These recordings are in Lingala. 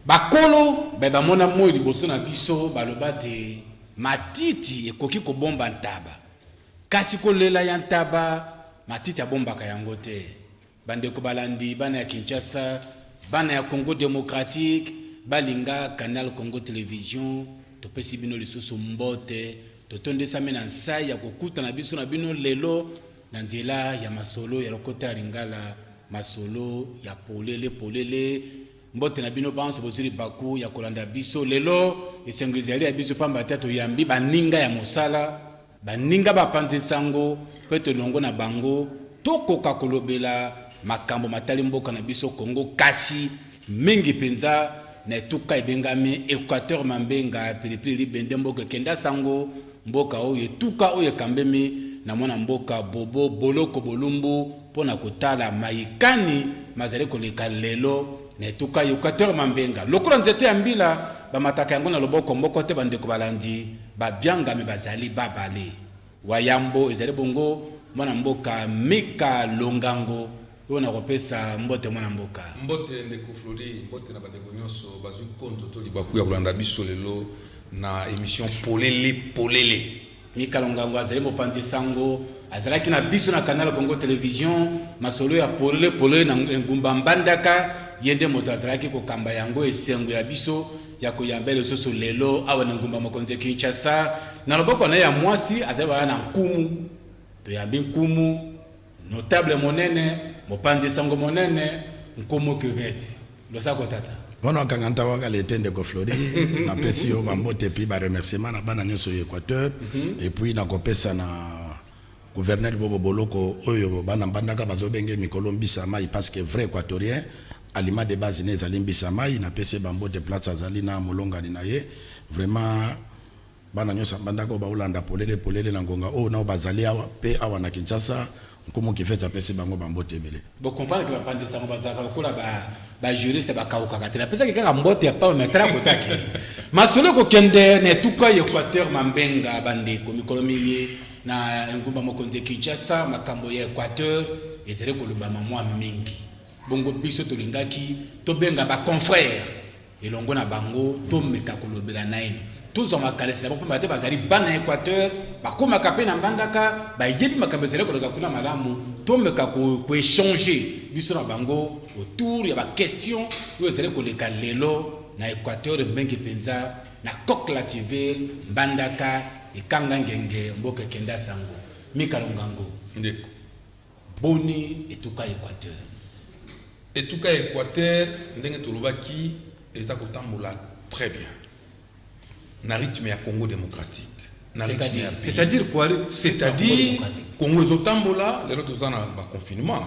Bakolo baye bamona moi liboso na biso baloba te, Matiti ekoki kobomba ntaba, kasi kolela ya ntaba matiti abombaka yango te. Bandeko balandi, bana ya Kinshasa, bana ya Congo democratique, balinga Canal Congo Television, topesi bino lisusu mbote. Totondisami na nsai ya kokuta na biso na bino lelo. Na nzela ya masolo ya lokota ya lingala, masolo ya polele polele. Mbote na bino banso bozwi libaku ya kolanda biso lelo. Esengo ezali ya biso pamba te toyambi baninga ya mosala, baninga bapanzi nsango mpe tolongo na bango tokoka kolobela makambo matali mboka na biso Congo, kasi mingi mpenza na etuka ebengami Equateur Mambenga, Pilipili Libende, Mboka Ekenda Sango. mboka oyo etuka oyo ekambemi na mwana mboka Bobo Boloko Bolumbu mpo na kotala maye kani mazali koleka lelo na etuka Euquateur Mambenga lokola nzete ya mbila bamataka yango na loboko moko te bandeko balandi babiangami bazali babale wayambo ezali bongo mwana mboka Mika Longango Oyo na kopesa mbote mwana mboka. Mbote ndeko Flori, mbote na bandeko nionso bazui konzo to libaku ya kolanda biso lelo na emission Polele Polele. Mika Longango azali mopanzi sango, azalaki na biso na Canal Congo Television, masolo ya Polele Polele na engumba Mbandaka, ye nde moto azalaki kokamba yango, esengo ya biso ya koyamba ye lisusu lelo awa na engumba mokonzi Kinshasa, na loboko na ye ya muasi azali wana na nkumu, toyambi nkumu Notable monene, mopanzi sango monene, nkumu cuvette. Losako tata. Mwana wa Kanganta wa kala ete ndeko Flory napesi yo ba mbote et puis ba remerciements na bana nionso ya Equateur et puis nakopesa na Gouverneur Bobo Boloko oyo bana Mbandaka bazobenge mikolo mbisa ya mayi parce que vrai Equatorien aliment de base ne ezali mbisa ya mayi napesi ye ba mbote place azali na molongani na ye vraiment Bana nyonso ya mbandaka oyo baolanda polele polele na ngonga oyo nao bazali awa mpe awa na Kinshasa, Nkumu Kifeti apesi bango ba mbote ebele. Bo comprendre que ba panzi sango bazalaka lokola ba ba juristes ba kawukaka te. Na pesaki kaka mbote ya pamba mais tala kote akeyi. Masolo eko kende na etuka ya Equateur Mambenga ba ndeko, mikolo miye na engumba mokonzi ya Kinshasa makambo ya Equateur ezali kolobama mua mingi. Bongo biso tolingaki tobenga ba confrères. elongo na bango tomeka kolobela naino tozwa makanisi na bango mpamba te bazali bana ya equateur bakomaka mpe na mbandaka bayebi makambo ezali koleka kuna malamu tomeka koechange biso na bango autour ya baquestion oyo ezali koleka lelo na equateur mingi mpenza na coq lativille mbandaka ekanga ngenge mboka ekenda sango mikalongango ndeko Boni, etuka ya Equateur? Etuka ya Equateur, ndenge tolobaki, eza kotambola très bien na rythme ya Congo democratique. C'est-à-dire quoi C'est-à-dire Congo ezotambola lelo toza na ba confinement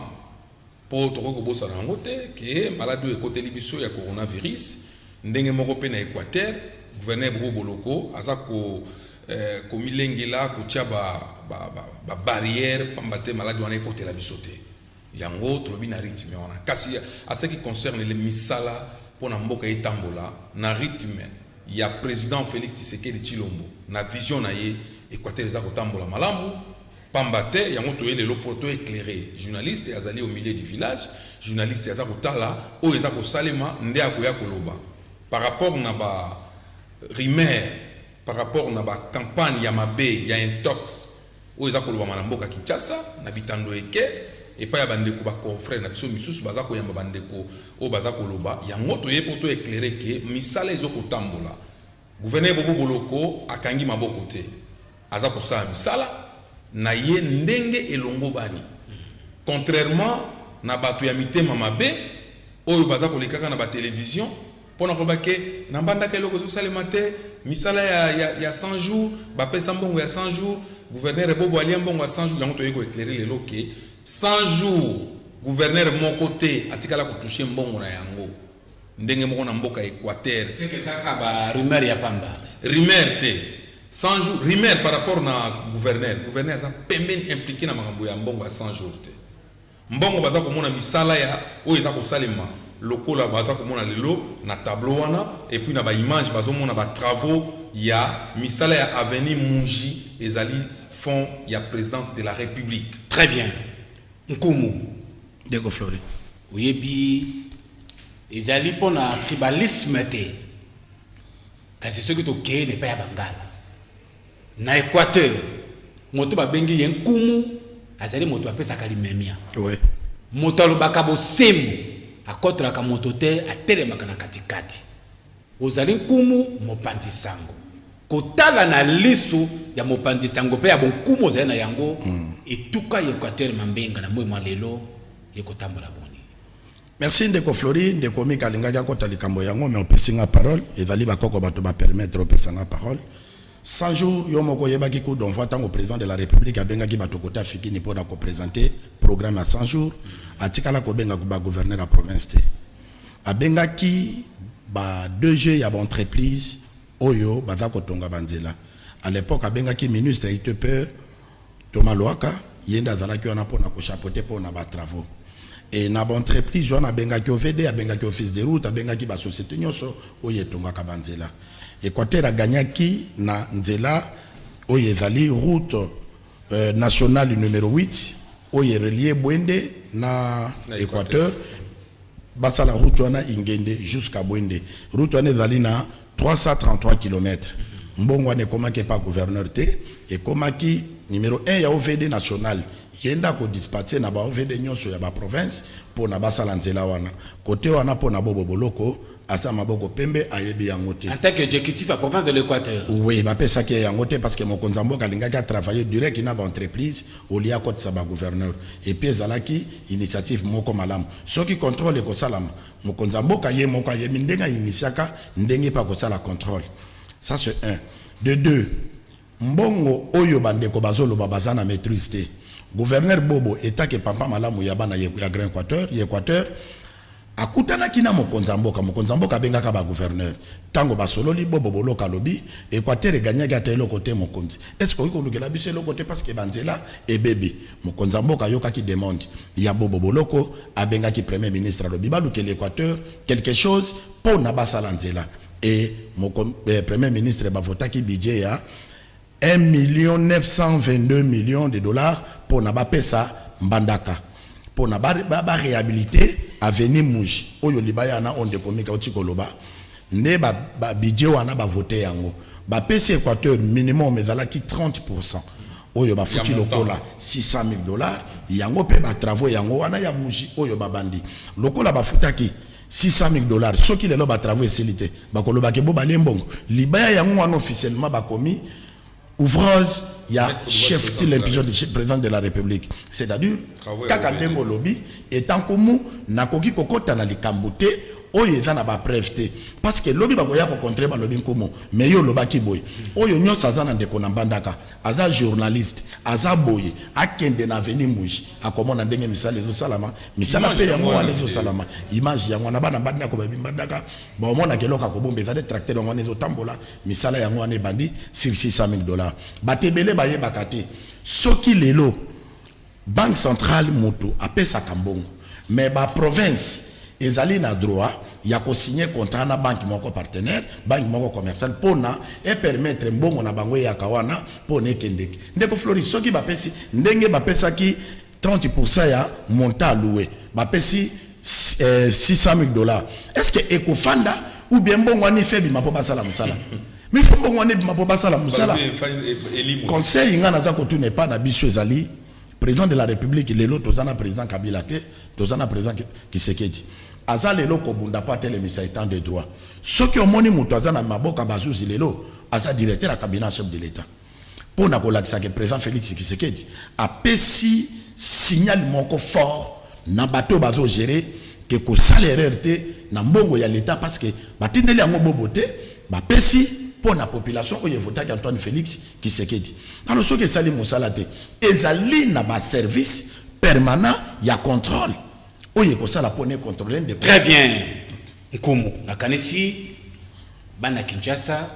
mpo tokoki kobosana yango te ke maladi oyo ekoteli biso ya coronavirus ndenge moko mpe na équateur gouverneur bobo boloko aza ko eh, komilengela kotia ba, ba, ba, ba barrière pamba te maladi wana ekotela biso te yango tolobi na rythme wana kasi à ce qui concerne le misala mpo na mboka etambola na rythme ya président félix tshisekedi tshilombo na vision na ye equateur eza kotambola malamu pamba te yango toye lelo mpo to éclaire journaliste azali au milieu du village journaliste aza kotala oyo eza kosalema nde akoya koloba par rapport na ba rumeur par rapport na ba campagnes ya mabe ya intox oyo eza kolobama na mboka Kinshasa na bitando eke epai ya ba ndeko ba confreres na biso misusu baza koyamba ba ndeko oyo baza koloba yango toye mpo to eclairer que misala ezo kotambola Gouverneur Bobo Boloko akangi maboko te aza kosala misala na ye ndenge elongobani contrairement na bato ya mitema mabe oyo baza kolekaka na ba televisions Mpo na koloba que na mbandaka eloko ezo salema te, misala ya ya 100 jours, ba pesa mbongo ya 100 jours, gouverneur bobo alia mbongo ya 100 jours, yango toye ko eclairer lelo que 100 jours gouverneur moko te atikala ko toucher mbongo na yango. Ndenge moko na mboka Equateur. Ce que eza kaka ba rumeurs ya pamba. Rumeurs te. 100 jours, rumeurs par rapport na gouverneur. Gouverneur aza pembeni impliquer na makambo ya mbongo ya 100 jours te. Mbongo baza komona misala ya oyo eza kosalema lokola baza komona lelo na tableau wana et puis na ba images bazo mona ba travaux ya misala ya avenue Munji ezali fonds ya presidence de la republique. Très bien nkumu. Ndeko Flori, oyebi ezali mpo na tribalisme te, kasi soki tokei na epai ya Bangala, Na Equateur, moto babengi ye nkumu azali moto apesaka limemya. Moto alobaka bosembo, akotolaka moto te, atelemaka na katikati. Ozali nkumu, mopanzi sango. Kotala na lisu ya mopanzi sango mpe ya bonkumu ozali na yango, etuka ya Equateur Mambenga na moyi mwa lelo ekotambola boni? Merci ndeko Flory, ndeko Mika alingaki akota likambo yango mais opesi nga parole, ezali ba koko batu ba permettre opesa nga parole. 100 jours yo moko oyebaki coup d'envoi tango president de la republique abengaki batu kota Fikini pona ko presenter programme ya 100 jours, atikala kobenga ba gouverneur ya province te. Abengaki ba DG ya ba entreprises oyo baza kotonga ba nzela. A l'epoque abengaki ministre ya ITP, Thomas Luaka ye nde azalaki wana pona ko chapoter pona ba travaux et na ba entreprises wana abengaki OVD, abengaki office de route, abengaki ba societes nionso oyo etongaka ba nzela. Equateur a gagnaki na nzela oyo ezali route nationale numero huit oyo e relier Buende na Equateur, basala route wana Ingende jusqu'à Buende. Route wana ezali na 333 kilomètre mbongo wana ekomaki epa gouverneur te ekomaki numero un ya ovd national ye nde ako dispatse na ba ovd nionso ya ba province pona basala nzela wana cote wana pona bobo boloko aza maboko pembe ayebi yango te en tant que executif ya province de l'equateur oui bapesaki ye yango te parceque mokonzi ya mboka alingaki a travailler direct na ba entreprise au lieu akotisa ba gouverneur epuis ezalaki initiative moko malamu soki controle ekosalama Mokonzi ya mboka ye moko ayebi ndenge a initiaka ndenge pe akosala controle ça ce un. De deux mbongo oyo ba ndeko bazo loba baza na maitrise te. Gouverneur Bobo etant que papa malamu ya bana ya grand equateur, ya equateur, akutanaki na mokonzi ya mboka, mokonzi ya mboka abengaka ba gouverneur. Tango ba sololi Bobo Boloko alobi equateur e gagnaki ata eloko te mokonzi est ce que okoki kolukela biso eloko te parce que ba nzela ebebi. Mokonzi ya mboka ayokaki demande ya Bobo Boloko, abengaki Premier ministre alobi balukela Equateur quelque chose mpo na basala nzela et moko, eh, Premier ministre ba votaki budget ya 1.922 millions de dollars mpo na bapesa Mbandaka mpo na ba rehabiliter avenue Muji oyo libaya na oyo ndeko Mika auti koloba Nde ba ba budget wana ba vote yango ba pesi Equateur minimum ezalaki 30 pourcent oyo ba futi lokola 600.000 dollars yango pe ba travaux yango wana ya muji oyo ba bandi lokola ba futaki 600.000 dollars soki lelo ba travaux esili te bako loba ke bo balie mbongo libaya yango wana officiellement ba komi Ouvrage ya chef sur l'impulsion du President de la Republique. C'est à dire, kaka ndenge olobi, etant kumu, nakoki kokota na likambo te oyo eza na ba preuve te parce que lobi bakoya ko contrer balobi nkumu mais yo olobaki boye oyo nyonso aza na ndeko na mbandaka aza journaliste aza boye akende na avenue muji akomona ndenge misala ezosalama misala mpe yango wana ezosalama image yango wana bana mbandako babi mbandaka baomonaka eloko akobomba ezali tracteur yango wana ezotambola Misala yango wana ebandi sur 600.000 dollars. Bato ebele bayebaka te soki lelo Banque centrale mutu apesaka mbongo mais ba provinces ezali na droit ya ko signer contrat na banque moko partenaire, banque moko commerciale pona e permettre mbongo na bango eyaka wana pona ekendeke. Ndeko Floris, soki bapesi ndenge bapesaki 30 pour cent ya montant a loue ba pesi 600000 dollars est ce que eko fanda ou bien mbongo wana ife ebima po basala musala mais fo mbongo wana ebima po basala musala conseil nga naza kotuna epa na biso ezali président de la république lelo toza na président kabila te toza na président kisekedi aza lelo kobunda po atelemisa etant de droit soki omoni moto aza na maboka bazuzi lelo aza directeur ya cabinet chef de l'état mpo na kolakisa que President Felix Tshisekedi apesi signal moko fort na bato oyo bazo gerer que kosala erreur te na mbongo ya l'Etat parce que batindeli yango bobo te, bapesi mpo na population oyo e votaki Antoine Felix Tshisekedi. Alors soki esali mosala te, ezali na ba services permanents ya controle oyo ekosala mpo na e controler ndeko. Très bien Nkumu, nakanisi bana Kinshasa,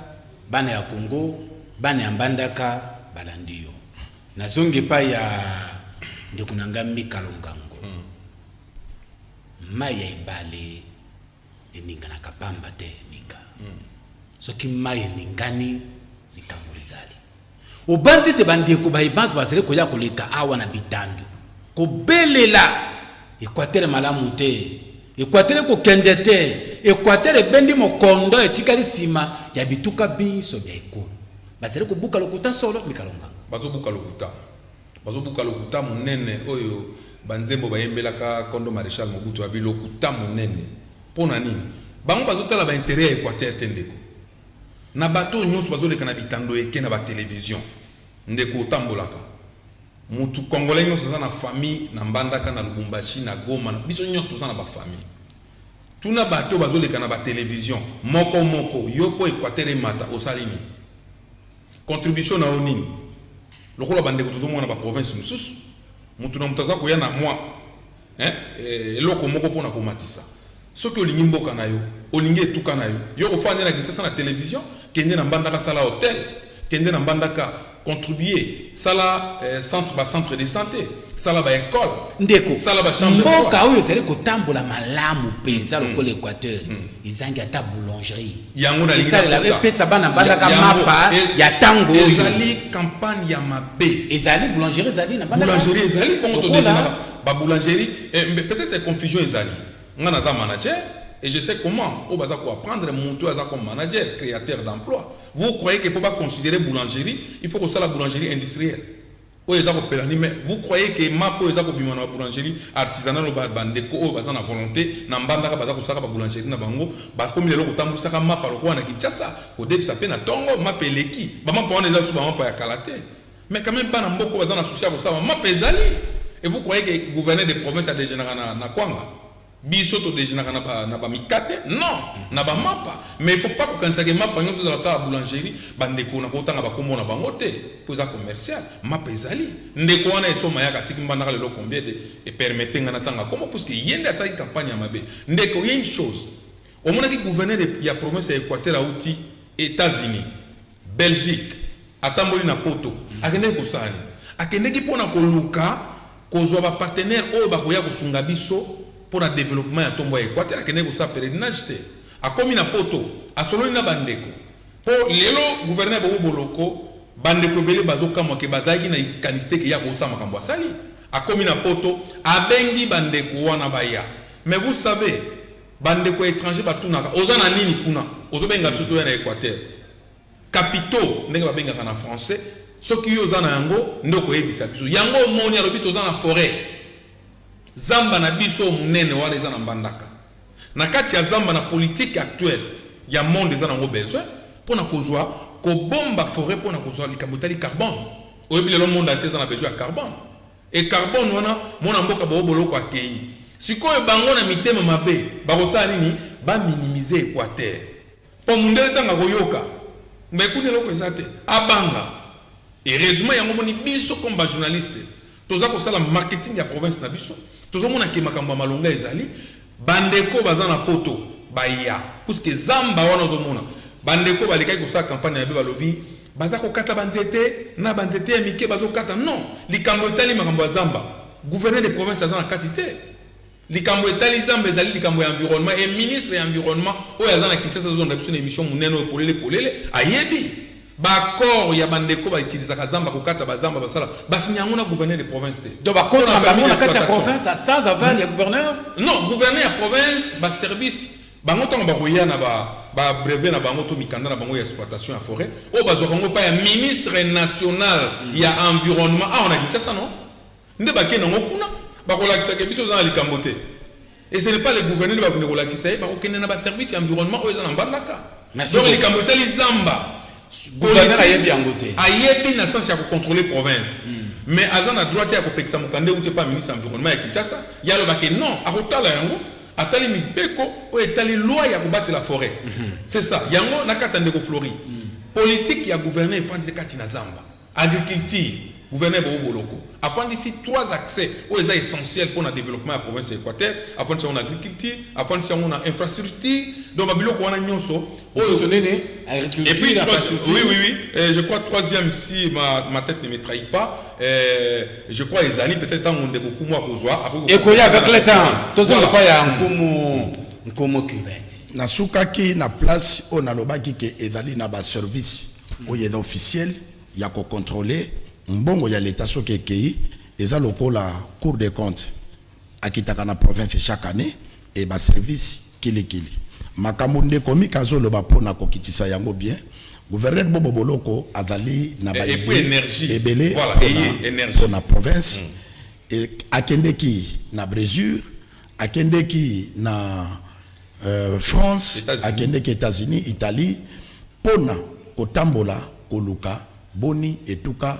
Bana ya Congo, bana ya Mbandaka balandi yo. Nazongi epai ya ndeko na ngai Mika Longango. Mai ya ebale eninganaka pamba te, Mika. Soki mai eningani, likambo lizali. Obanzi ete bandeko baye banso bazali koya koleka awa na bitando kobelela Equateur malamu te, Equateur ekokende te, Equateur ebendi mokondo etikali nsima ya bituka binso bya ekolo. Bazali kobuka lokuta solo, Mika Longanga? Bazobuka lokuta. Bazobuka lokuta monene oyo banzembo bayembelaka nkondo Marechal Mobutu, ya bilokuta monene. Mpo na nini? Bango bazotala ba interets ya Equateur te ndeko. Na bato oyo nionso bazo leka na bitando eke na ba television ndeko otambolaka mutu congolais nionso aza na famille na mbandaka na lubumbashi na goma na biso nionso toza na ba famille tuna bato oyo bazo leka na ba television moko moko yo po equateur emata osali nini contribution na yo nini lokola ba ndeko tozo mona na ba province mususu mutu na mutu aza koya na mwa Hein eloko moko pona komatisa soki olingi mboka na yo olingi etuka na yo yo kofanda nde na Kinshasa na television kende na mbandaka sala hotel kende na mbandaka contribue sala centre ba centre de sante sala ba ecole Ndeko, sala ba chambre de mboka oyo ezali kotambola malamu penza lokola Equateur ezangi ata boulangerie yango nalingi esalela nakota epesa bana mbandaka Ya- yango, mapa e- ya tango oyo ezali campagne ya mabe ezali boulangerie ezali na mbandaka boulangerie ezali bongo Lokola- todefinaka Ba boulangerie eh mbe peut-etre confusion ezali nga naza manager et je sais comment oyo baza ko apprendre mutu oyo aza comme manager createur d'emploi vous croyez que po ba considerer boulangerie il faut kosala boulangerie industrielle oyo eza ko pelani mais vous croyez que map oyo eza kobima na ba boulangerie artisanale ba ba ndeko oyo baza na volonte na mbandaka baza kosaka ba boulangerie na bango bakomi lelo kotambwisaka mapa lokola na Kinshasa kodebisa pe na tongo mapa eleki ba mapa wana eza lisusu ba mapa ya kala te Mais quand meme bana mboka oyo baza na souci ya kosala mapa ezali et vous croyez que gouverneur de province a dejeunaka na na kwanga? Biso to dejeunaka na ba na ba mikate non na ba mapa mais il faut pas kokanisa que mapa nionso ezala kaka boulangerie ba ndeko na ko tanga ba kombo na bango te po eza commercial mapa ezali ndeko wana esoma yaka atiki mbandaka lelo combien de et permettez nga na tanga kombo puisque ye nde asalaki campagne ya mabe ndeko ye une chose omonaki gouverneur ya province ya Equateur awuti Etats-Unis Belgique, atamboli na Poto. Akendeki kosala nini? Akendeki mpo na koluka kozwa ba partenaires oyo bakoya kosunga biso mpo na developpement ya ntombwa ya Equateur. Akendeki kosala pelerinage te. Akomi na Poto, asololi na bandeko. Mpo lelo gouverneur Bobo Boloko, bandeko ebele bazokamwa que bazalaki na likanisi te que ye akosala makambo asali. Akomi na Poto, abengi bandeko wana baya. Mais vous savez, Ba ndeko ya etranger ba tunaka oza na nini kuna? Ozo benga biso toya na Equateur? Capitaux ndenge ba bengaka na français soki yo oza na yango nde oko yebisa biso. Yango omoni alobi toza na foret. Zamba na biso oyo munene wana eza na Mbandaka. Na kati ya zamba na politique actuelle ya monde eza na yango besoin pona kozua kobomba foret pona kozua likambo etali carbone. Oyebi lelo monde entier eza na besoin ya carbone? Et carbone wana mwana mboka bobo boloko akeyi sikoyo bango na mitema mabe bakosala nini ba minimiser equateur po mundele tango akoyoka mais kuna eloko eza te abanga heureusement yango omoni biso comme ba journaliste toza kosala marketing ya province na biso tozo mona ke makambo ya malonga ezali ba ndeko oyo baza na poto baya puisque zamba wana ozo mona ba ndeko oyo balekaki kosala campagne mabe balobi Baza kokata ba nzete na ba nzete ya mike bazo kata non likambo etali makambo ya zamba gouverneur de province aza na kati te likambo etali zamba ezali likambo ya environnement et ministre ya environnement oyo aza na Kinshasa azo londa biso na emission munene oyo polele polele ayebi ba accord ya ba ndeko ba utilisaka zamba kokata ba zamba basala ba signa yango na gouverneur de province te Donc ba contrat na bango na kati ya province sans aval ya gouverneur? Non gouverneur ya province ba service Bango tango bakoya na ba ba brevets na bango to mikanda na bango ya exploitation ya foret oyo bazwaka yango epai ya ministre national ya environnement awa na Kinshasa no nde bakei na yango kuna bakolakisa ke biso toza na likambo te et ce n'est pas le gouverneur nde bakokende kolakisa ye bakokende na ba service ya environnement oyo eza na Mbandaka donc likambo etali zamba gouverneur ayebi yango te ayebi na sens ya ko controler province mais aza na droit te ya kopekisa mokanda euti epai ya ministre ya environnement ya Kinshasa ye aloba ke non akotala yango Atali mibeko oyo etali loi ya kobatela foret. C'est ça. Yango nakata ndeko Flory. Politique ya gouverneur efandi kati na zamba. Agriculture, gouverneur Bobo Boloko afandisi trois axes oyo eza essentiels pona developpement ya province ya Equateur. Afandisi yango na agriculture, afandisi yango na infrastructure. Donc ba biloko wana nionso. Et puis, oui, oui, oui. Euh, je crois troisième, si ma, ma tête ne me trahit pas, euh, je crois Ezali, peut-être tant qu'on découvre moi qu'on soit. Et qu'on y avec le temps, tout ça pas ya nkomo nkomo cuvette. Na sukaki na place on a lobaki que Ezali na ba service au yé officiel ya ko contrôler mbongo ya l'état soki ekei eza lokola cour des comptes Akitaka na province chaque annee et ba service kili kili. Makambo ndeko Mika azo loba po na kokitisa yango bien, Gouverneur Bobo Boloko azali na ba idees ebele po na province. Akendeki na Bresure, akendeki na France, akendeki Etats-Unis, Italie po na kotambola koluka boni etuka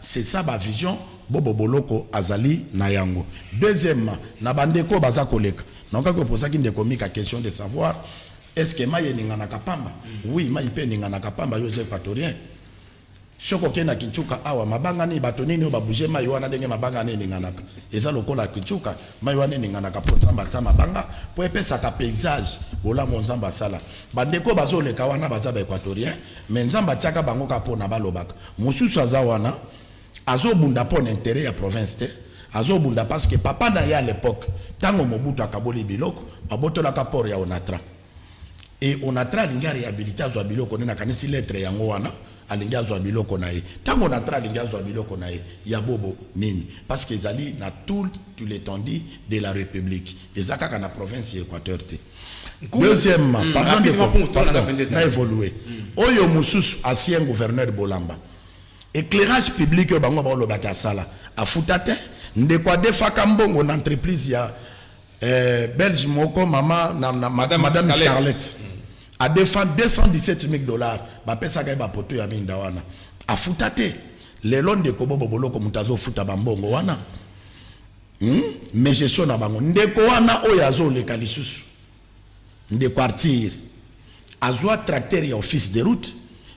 C'est ça ba vision bobo boloko azali na yango. Deuxièmement, na ba ndeko oyo baza koleka, naokaki opozaki ndeko Mika question de savoir est ce que mayi eninganaka pamba? Oui mayi pe eninganaka pamba, yo oza equatorien, soki okeyi na Kinchuka awa mabanga nini, bato nini oyo ba bouger mayi wana ndenge mabanga wana eninganaka? Eza lokola Kinchuka, mayi wana eninganaka po Nzambe atia mabanga po epesaka paysage bolamu oyo Nzambe asala. Ba ndeko oyo bazo leka wana baza ba equatoriens mais Nzambe atiaka bango kaka pona balobaka. Mosusu aza wana azo bunda pona interet ya province te azo bunda parce que papa naye a l'epoque tango Mobutu akaboli biloko ba botolaka port ya Onatra et Onatra alingi a rehabiliter azua biloko naye nakanisi lettre yango wana alingi azua biloko naye tango Onatra alingi azua biloko naye ya bobo nini parce que ezali na tout l'etendue de la republique eza kaka na province ya Equateur te. Deuxièmement, mm, pardon ndeko, pardon, na évoluer. Mm. Oyo mususu ancien gouverneur Bolamba. Éclairage public oyo bango baoloba ke asala, afuta te. Ndeko adefaka mbongo na entreprise ya eh, belge moko mama na, na madame, madame Scarlett. Scarlett. Mm. Adefa 217 000 dollars, bapesaka ye bapoto ya minda wana. Afuta te. Lelo ndeko bobo boloko moto azofuta bambongo wana. Hum mais gestion na bango ndeko wana oyo azo leka lisusu ndeko artir azua tracteur ya office de route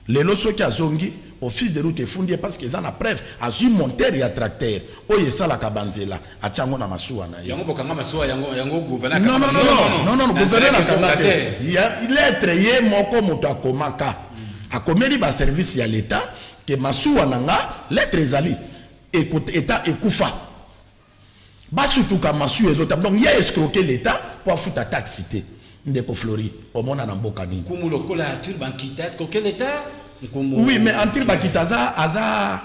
lelo soki azongi office de route efundi ye parce que eza na preuve azui monteur ya tracteur oyo esalaka banzela atia yango na masuwa na ye yango bokanga masuwa yango yango gouverneur non non non non non gouverneur akanga te ya lettre ye moko moto akomaka akomeli ba service ya l'etat ke masuwa na nga lettre ezali Ekot etat ekufa ba sutuka masuya ezo tap donc ye escroque l'etat po afuta taxe te ndeko flory omona na mboka nini. Nkumu lokola Arthur Bankita escroque l'etat nkumu. Oui mais Arthur Bakita aza aza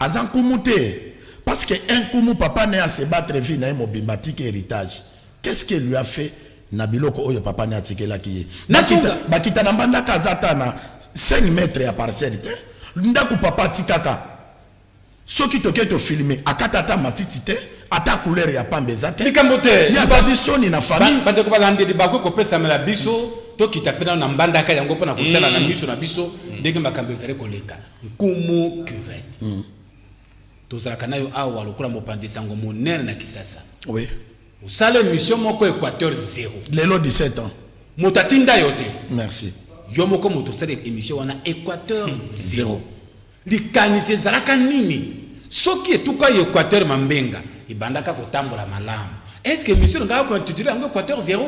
aza nkumu te parce que un nkumu papa ne a se battre vie naye mobimba atiki heritage qu'est ce que lui a fait na biloko oyo papa ne atikelaki ye Bakita Bakita na mbandaka aza ata na cinq mètres ya parcelle te ndaku papa atikaka Soki toke to filmer akata ata matiti te ata couleur ya pamba eza te Likambo te. ye Liba- azabi soni na Ba- famille bandeko balandeli bakoki kopesamela biso tokita mpe nano na mbandaka yango mpo na kotala na miso na biso ndenge makambo ezali koleka nkumu cuvette tozalaka nayo awa lokola mopanzi sango monene na kisasa oui osala emission moko équateur zero lelo 17 ans moto atinda yo te merci yo moko moto osala emission wana équateur zero zero Likanisi ezalaka nini soki etuka ya equateur mambenga ebandaka kotambola malamu? Est ce que emission elingaka ko intituler yango equateur zero?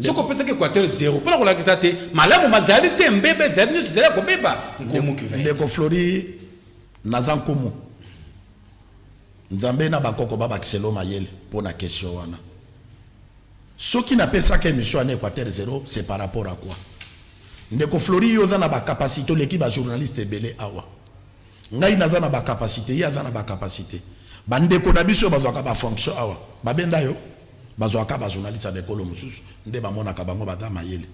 Soki opesaki equateur zero mpo na kolakisa te malamu mazali te, mbeba ezali, nionso ezali ya kobeba. Nkumu cuvette. Ndeko Flory, naza Nkumu. Nzambe na bakoko babakisela yo mayele mpo na question wana. Soki na pesaka emission ya na equateur zero c'est par rapport à quoi? Ndeko Flory yo oza na ba capacite oleki ba journaliste ebele awa. Ngai naza na ba capacite ye aza na ba capacite. Ba ndeko na biso oyo bazwaka ba fonction awa ba benda yo? Bazwaka kaka ba journaliste ya ba ekolo mosusu nde ba monaka bango baza mayele.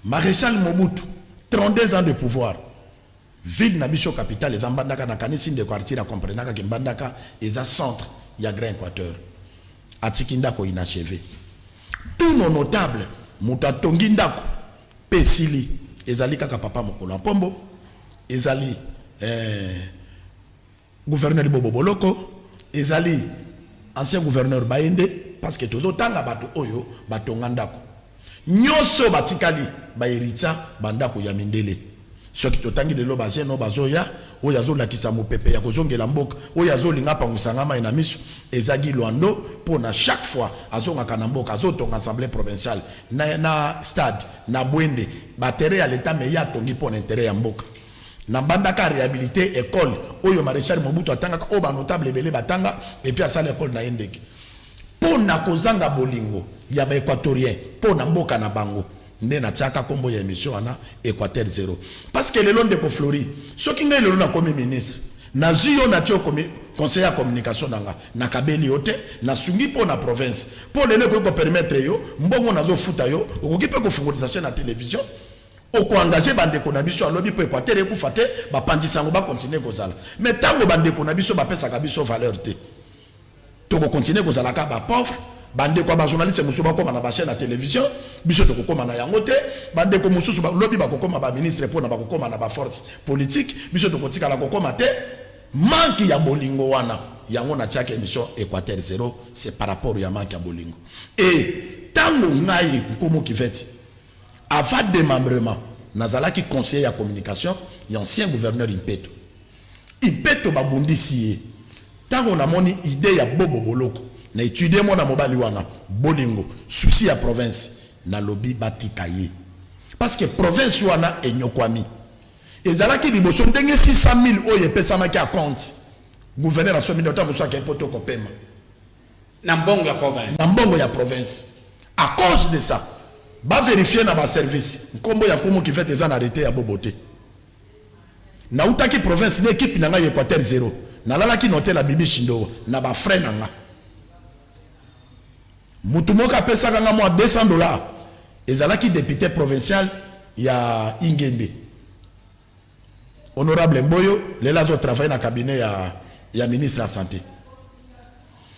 Marechal Mobutu 32 ans de pouvoir. Ville na biso capitale eza mbandaka na kanisi ndeko Arthur a comprenaka ke mbandaka eza centre ya grand equateur atiki ndako inacheve tout nos notable mutu atongi ndako pe esili ezali kaka papa mokolo ya pombo ezali eh, Gouverneur bobo boloko ezali ancien gouverneur baye nde parce que tozo tanga batu oyo ba tonga ndaku nioso ba tikali ba heritia ba ndaku ya mindele soki to tangi lelo ba jeune oyo bazo ya oyo azo lakisa mupepe ya kozongela mboka oyo azo linga apangusa nga mayi na misu eza Guy Luando pona chaque fois azongaka na mboka azo tonga assemblee provinciale na na stade na Buende ba terrain ya l'etat mais ye atongi pona interet ya mboka Na banda ka rehabilite ecole oyo Marechal Mobutu atangaka, oyo ba notables ebele batanga, et puis asala ecole na ye ndeki. Po na kozanga bolingo ya ba equatoriens po na mboka na bango, nde na tiaka kombo ya emission wana Equateur zero. Parce que lelo ndeko Flory, soki ngai lelo na komi ministre, nazui yo natie yo komi conseiller ya communication na nga, na kabeli yo te, na sungi po na province. Po lelo ekoki ko permettre yo mbongo nazo futa yo, okoki pe kofungolisa chaine ya television, Oko engager ba ndeko na biso ya lobi po Equateur ekufa te, ba panzi sango ba continuer kozala. Mais tango ba ndeko na biso ba pesaka biso valeur te, toko continuer kozala kaka ba pauvres. Ba ndeko ya ba journalistes mosusu ba koma na ba chaines ya television, biso toko koma na yango te. Ba ndeko mosusu ba lobi bako koma ba ministres pona bako koma na ba forces politiques, biso toko tikala ko koma te. Manque ya bolingo wana, yango na tiaki emission Equateur zero, c'est par rapport ya manque ya bolingo. Et tango ngai Nkumu Kiveti, Avant demembrement, nazalaki conseiller ya communication ya ancien gouverneur Impeto. Impeto babundisi ye. Tango namoni idee ya Bobo boloko, na etudier mwana mobali wana, bolingo, souci ya province, nalobi batika ye. Parce que province wana enyokwami. Ezalaki liboso ndenge 600.000 oyo epesamaki acompte, gouverneur asombi nde, tango mosusu akeyi poto kopema. Na mbongo ya province. Na mbongo ya province. A cause de ça, ba verifier na ba services, nkombo ya Kumu Kivet eza na arrete ya Bobo te. Nawutaki province na equipe na ngai ya Equateur Zero. Nalalaki na hotel ya Bibi Shindowa na ba frais na ngai. Mutu moko apesaka ngai mwa 200 dollars, ezalaki depute provincial ya Ingende. Honorable Mboyo lelo azo travailler na cabinet ya ya ministre ya sante.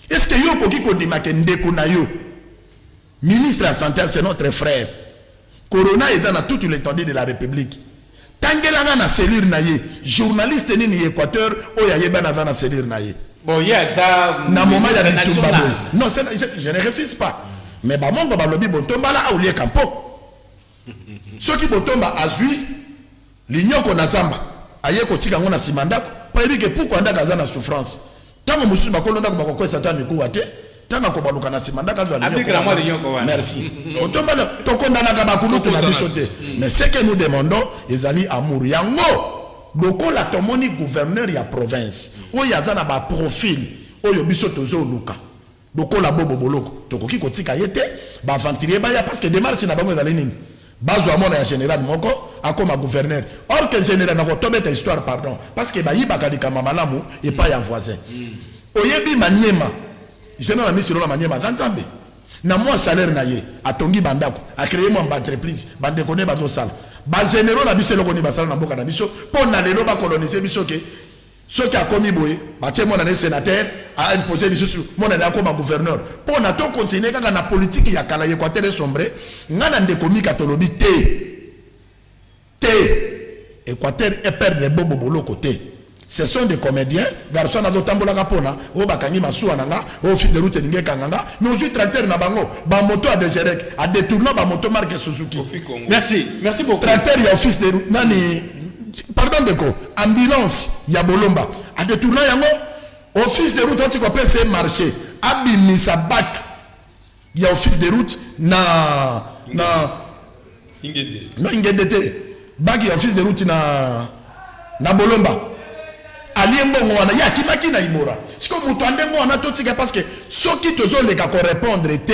Est ce que yo okoki kondima ke ndeko na yo ministre ya sante c'est notre frère. Corona eza na toute l'étendue de la République. Tangela nga na cellule na ye journaliste nini ya Equateur oyo ayeba na za na cellule na ye. Bon ye aza na moment ya bitumba boye. Non, je ne refuse pas. Mais bamongo balobi bontombala aulie kampo. Soki Botomba azui linyoko na zamba, aye kotika yango na sima ya ndako po ayebi que puku ya ndako aza na souffrance. Tango mosusu bakolo ndako bakokwesa ata mikuwa te, tango akobaluka na sima ndako azua linyoko wana. Merci. Botomba na tokondanaka ba kulutu na biso te, mais ce que nous demandons ezali amour. Yango lokola tomoni gouverneur ya province oyo aza na ba profils oyo biso tozoluka, Lokola bobo boloko tokoki kotika ye te ba aventurier baya parce que demarche na bango ezali nini? Bazua mwana ya general moko akoma gouverneur or que general nako tobeta histoire pardon parce que bayibaka likambo ya malamu epai ya voisin oyebi maniema general amisi lola maniema aza nzambe na mwa salaire na ye atongi ba ndako a cree mwa ba entreprise ba ndeko ne bazo sala ba generaux na biso eloko nini basala na mboka na biso po na lelo ba colonise biso ke Soki akomi boye batie mwana naye senateur a imposer lisusu mwana naye akoma gouverneur pona to continuer kaka na politique ya kala ya equateur e sombrer nga na ndeko mika tolobi te te equateur e perdre bobo boloko te ce sont des comediens garçon nazo tambolaka pona o bakangi masuwa na nga o fil de route elingi ekanga nga mais ozwi tracteur na bango ba moto a degerek a detourna ba moto marque suzuki merci merci beaucoup tracteur ya office de nani pardon ndeko ambulance ya bolomba a detourna yango office de route ati kopesa ye marché abimisa bac ya office de route na na ingende no ingende te bac ya office de route na na bolomba alie mbongo wana ye akimaki na ibora sikoyo moto andenge wana totika parce que soki tozoleka korepondre te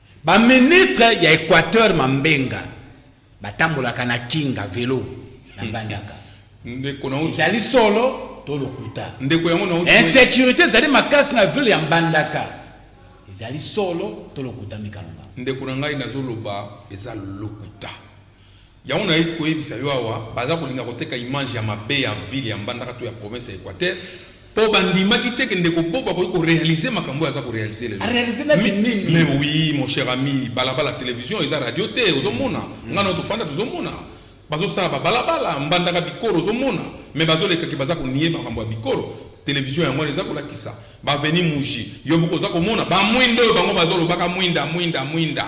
Ba ministre ya equateur mambenga batambolaka na kinga, velo, na mbandaka ezali solo to lokuta? Insecurite ezali makasi na ville ya mbandaka ezali solo to lokuta mikalonga? Ndeko na ngai nazoloba eza lokuta. Yango naye koyebisa yo awa baza kolinga koteka image ya mabe ya ville ya mbandaka to ya province ya equateur po ba ndimaki te ke ndeko bob akoki ko realiser makambo oyo aza ko realiser lelo A realiser neti mi nini? mais oui mon cher ami balabala television eza radio te ozo mona nga na yo tofanda tozo mona bazo sala ba balabala mbandaka bikoro ozo mona mais bazo leka ke baza ko nier makambo ya bikoro television yango wana eza ko lakisa ba avenue muji yo moko oza ko mona ba mwinda oyo bango bazo lobaka mwinda mwinda mwinda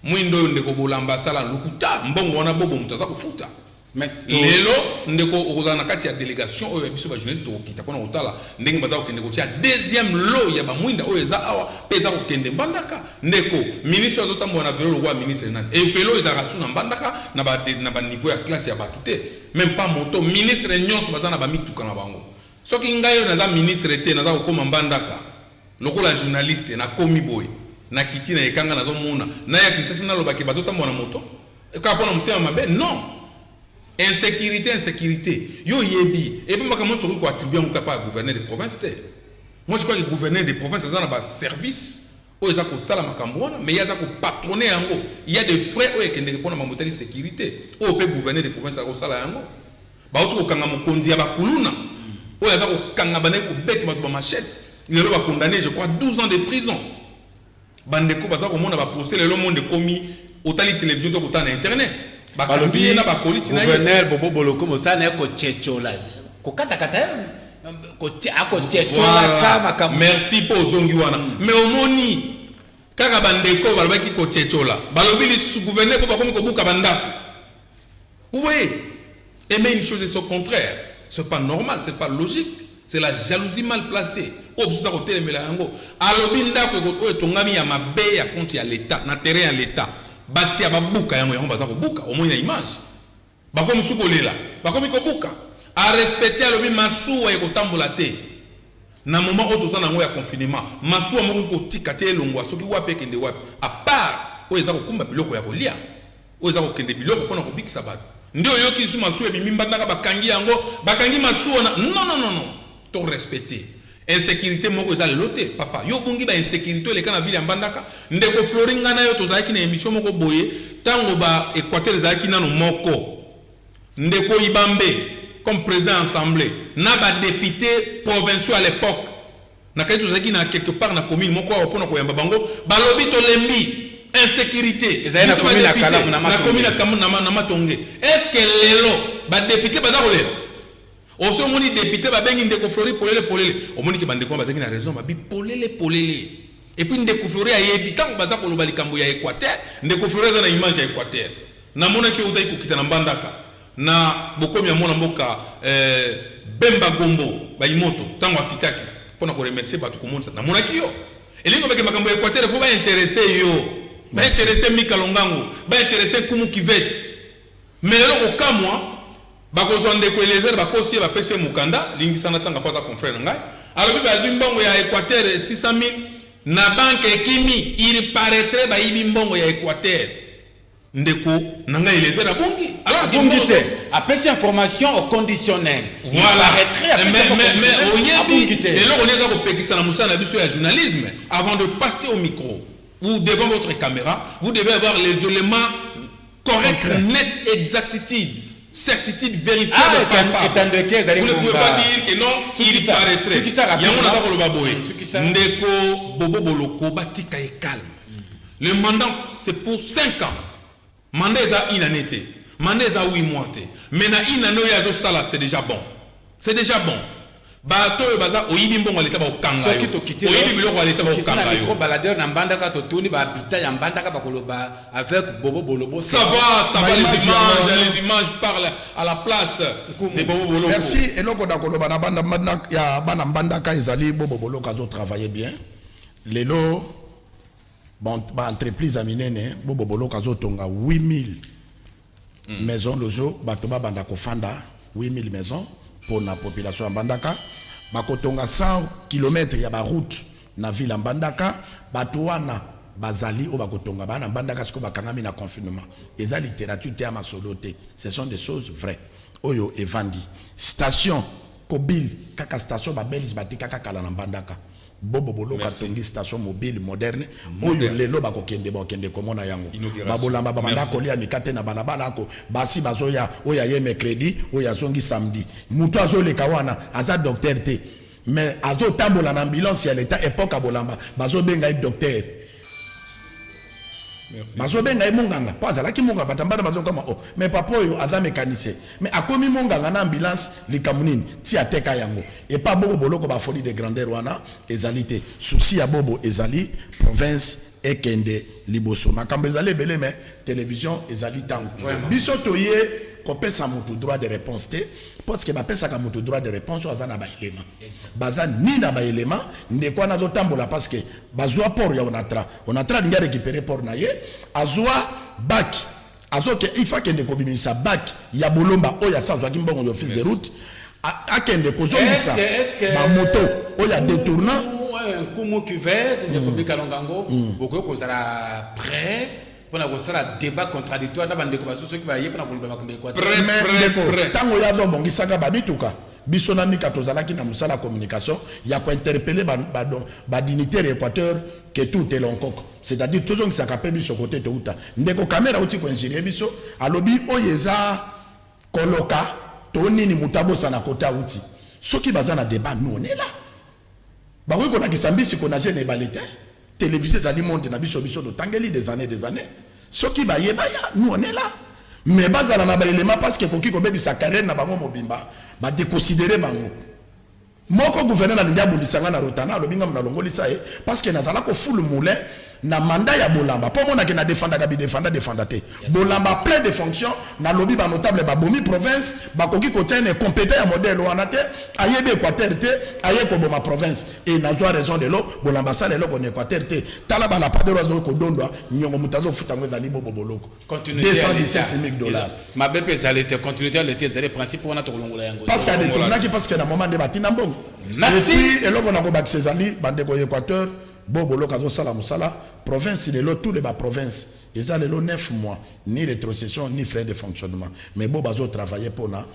Muinda oyo ndeko bolamba asala lokuta mbongo wana bobo mutu aza kofuta mais lelo ndeko okozala na kati ya delegation oyo ya biso ba journaliste tokokita pona kotala ndenge baza kokende kotia deuxième lot ya ba muinda oyo eza awa pe eza kokende mbandaka ndeko ministre azo tambola na velo lokola ministre nani et velo ezalaka su na mbandaka na ba na ba niveau ya classe ya batu te même pas moto ministre nyonso baza na ba mituka na bango soki ngai oyo naza ministre te naza kokoma mbandaka Lokola journaliste na komi boye na kiti na ekanga nazo mona na ya Kinshasa na loba ke bazo tambola na moto kaka pona motema mabe non insecurite insecurite yo oyebi epe makambo tokoki ko attribuer yango kaka pa gouverneur de province te moi je crois que gouverneur de province aza na ba service oyo eza kosala makambo wana mais ye aza ko patrone yango il y a des frais oyo ekendeke pona mambo etali securite oyo pe gouverneur de province akosala yango Bawuti kokanga mokonzi ya ba kuluna oyo aza kokanga bandaki kobete batu ba machette lelo ba condamne je crois 12 ans de prison bandeko baza komona ba procès lelo monde ekomi otali television to kotala na internet bakangi ye na ba colite na ye gouverneur bobo boloko mosala na ye kochechola kokatakata ye akochechola ka makambo merci mpo ozongi wana mais omoni kaka bandeko balobaki kochechola balobi lisu gouverneur mpo bakomi kobuka bandako Vous voyez et mais une chose est son contraire c'est pas normal c'est pas logique c'est la jalousie mal placee oyo biso toza kotelemela yango alobi ndako oyo etongami ya mabe ya compte ya l'etat na terrain ya l'etat batia babuka yango yango baza kobuka omoni na image bakomi su kolela bakomi kobuka a respecter alobi masuwa ekotambola te na moment oyo toza nango ya confinement masuwa moko kotika te elongwa soki wapi ekende wapi a part oyo eza kokumba biloko ya kolia Oyo eza kokende biloko pona kobikisa batu nde oyoki lisusu masuwa ebimi mbandaka bakangi yango bakangi masuwa na non non non non to respect te insecurite moko eza lelo te papa yo obungi ba insecurite oyo eleka na ville ya mbandaka ndeko flori nga nayo tozalaki na emission moko boye tango ba equateur ezalaki nanu moko ndeko ibambe comme president ya ensemble na ba depute provinciaux a l'epoque Na kati tozalaki na quelque part na commune moko awa pona koyamba bango balobi tolembi insecurite biso ba depute na commune ya na matonge est ce que lelo ba depute baza kolela osi omoni depute babengi ndeko flori polele polele omoni ke bandeko wana bazalaki na raison babi polele polele epuis ndeko flori ayebi ntango baza koloba likambo ya equateur ndeko flori aza na image ya equateur namonaki yo otaki kokita na mbandaka Na bokomi ya mwana mboka Bemba Gombo Bayimoto tango akitaki pona ko remercier batu komonisa namonaki yo elingi koloba ke makambo ya Equateur il faut ba interesse yo ba interesse Mika Longango ba interesse Nkumu Kivette mais lelo kokamwa bakozwa ndeko Eliezer bakosi ye bapesi ye mokanda limbisa nga tanga po aza confrère na ngai alobi bazwi mbongo ya Equateur 600.000 na banque ekimi il paraitrait bayibi mbongo ya Equateur. Ndeko na nga Eliezer abungi? Abungi te, apesi information au conditionnel. Voilà. Mais oyebi eloko nini eza kopekisa na mosala na biso ya journalisme avant de passer au micro ou devant votre caméra, vous devez avoir les éléments corrects, net, exactitude certitude vérifiable ah, palpable vous ne pouvez pas dire que non il paraîtrait yango naza koloba boye ndeko bobo boloko batika ye calme Le mandat c'est pour 5 ans. Mandat eza une annee te. Mandat eza 8 mois te. Mais na une annee oyo azo sala c'est dejà bon. C'est dejà bon. Bato oyo baza oyibi mbongo ya leta ba kokanga yo. Oyibi biloko ya leta ba kokanga yo. Soki baladeur na Mbandaka to tuni ba habitants ya Mbandaka ba koloba avec Bobo Bolobo. Ça va, ça va les images, les images parlent à la place de Bobo Bolobo. Merci. Eloko da koloba na banda ya bana Mbandaka ezali Bobo Bolobo azo travailler bien. Lelo ba ba entreprise ya minene bo boboloko azo tonga 8000 mm. maison lozo bato ba banda kofanda 8000 maison pona population ya Mbandaka bakotonga 100 km ya ba route na ville ya Mbandaka bato wana bazali oyo bakotonga bana mbandaka sikoyo bakangami na confinement eza littérature te ya masolo te ce sont des choses vraies oyo evandi station kobile kaka station babelge batikaka kala na mbandaka Bobo boloka tongi station mobile moderne oyo lelo bako kende bako kende komona yango ba bolamba ba banda kolia mikate na balabala ako basi bazoya oyo aye mercredi oyo azongi samedi mutu azo leka wana aza docteur te mais azo tambola na ambulance ya l'etat epoque ya bolamba bazo benga ye docteur Bazo benga ye monganga po azalaki monganga batambana bazo kama oh mais papa oyo aza mecanicien mais akomi monganga na ambulance likambo nini ti ateka yango epa bobo boloko ba folie de grandeur wana ezali te souci ya bobo ezali province ekende liboso makambo ezali ebele mais television ezali tango biso toye kopesa mutu droit de reponse te Parce que bapesaka mutu droit de reponse oyo aza na ba elements. Baza ni na ba elements, ndeko wana azo tambola parce que bazua port ya Onatra. Onatra alingi a recuperer port na ye, azua bac, azo ke, il faut akende kobimisa bac ya Bolomba oyo asi azuaki mbongo ya office de route, akende kozongisa ba moto oyo a detourna. Nkumu Cuvette, ndeko Bika Longango, bokoki kozala pret? pona kosala debat contradictoire na bandeko basusu soki baye pona koloba makambo ya equateur ntango ye azobongisaka bamituka biso na mika tozalaki na mosala ya communication ya kointerpele badinitaire ya équateur ke tout elonkoko c'est-à-dire tozongisaka mpe biso kote touta ndeko kamera auti koingirie biso alobi oyo eza koloka to nini moto abosana kote auti soki baza na debat nonela Bakoki kolakisa mbisi ko nager na ebale te, television ezali monde na biso, biso totangeli des annees des annees, soki baye baya, nous on est là, mais bazala na ba elements parce que ekoki kobebisa carrière na bango mobimba, ba decosidere bango. Moko gouverneur alingi abundisa ngai na Rotana, alobi ngai munalongolisa ye parce que nazala ko fulu moulin, na mandat ya bolamba po omona ke na defendaka bi defenda defenda te bolamba plein de fonction na lobi ba notable ba bomi province ba koki ko tia ne competa ya modèle wana te ayebi equateur te aye ko boma province et na zwa raison de l'eau bolamba sala eloko na equateur te tala ba lapadero azo ko dondwa nyongo mutazo futa ngo ezali bobo boloko 217000 dollars ma bepe ezali te continuité ya l'état ezali principe wana tokolongola yango parce que a détournaki parce que na moment nde batina mbongo merci eloko na ko bakisa ezali bande ko equateur Bo boloko azo sala musala province lelo tout le ba province eza lelo neuf mois ni retrocession ni frais de fonctionnement mais bo bazo travailler pona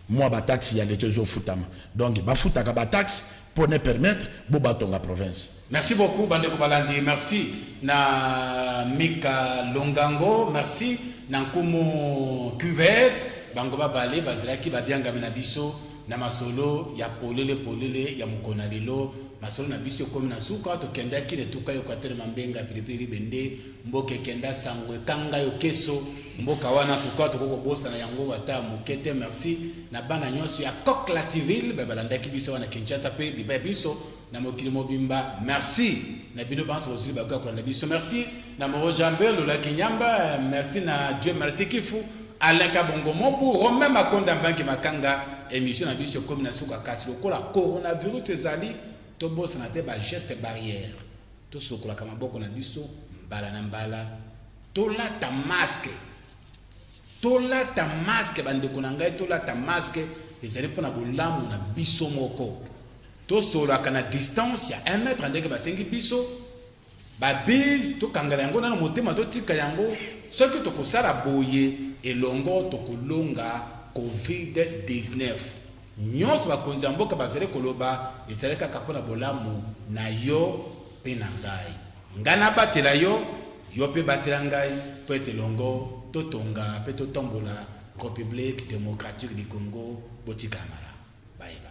mua ba taxe ya leta ezo futama donc ba futaka ba taxe po ne permettre bo ba tonga province. Merci beaucoup bandeko balandi merci na mika longango merci na nkumu cuvette bango babale bazalaki babiangami na biso. Na masolo ya polele polele ya mokona lelo, masolo na biso ekomi na suka. Tokendaki na etuka ya Equateur Mambenga pilipili libende mboka ekenda sango ekanga yo keso mboka wana tuka tokoki kobosana yango ata moke te. Merci na bana nyonso ya Coq Lativille baye balandaki biso awa na Kinshasa mpe libaya biso. na mokili mobimba merci na bino banso bozili bakoya kolanda biso merci na moro jambe lola kinyamba merci na dieu merci kifu alain kabongo mobu romain makonda mbangi makanga émission na biso ekomi na suka kasi lokola coronavirus ezali tobosana te bageste barrière tosokolaka maboko na biso mbala na mbala tolata maske Tolata masque ba ndeko na ngai tolata masque ezali pona bolamu na biso moko tosolaka na distance ya 1 mètre ndenge basengi biso ba bise tokangala yango nano motema totika yango soki tokosala boye elongo tokolonga covid 19 nyonso bakonzi ya mboka bazali koloba ezali kaka mpo na bolamu na yo mpe na ngai Ngai nabatela yo, yo mpe batela ngai mpo ete elongo totonga mpe totombola Republique democratique du Congo. Botikala malamu. Bye bye.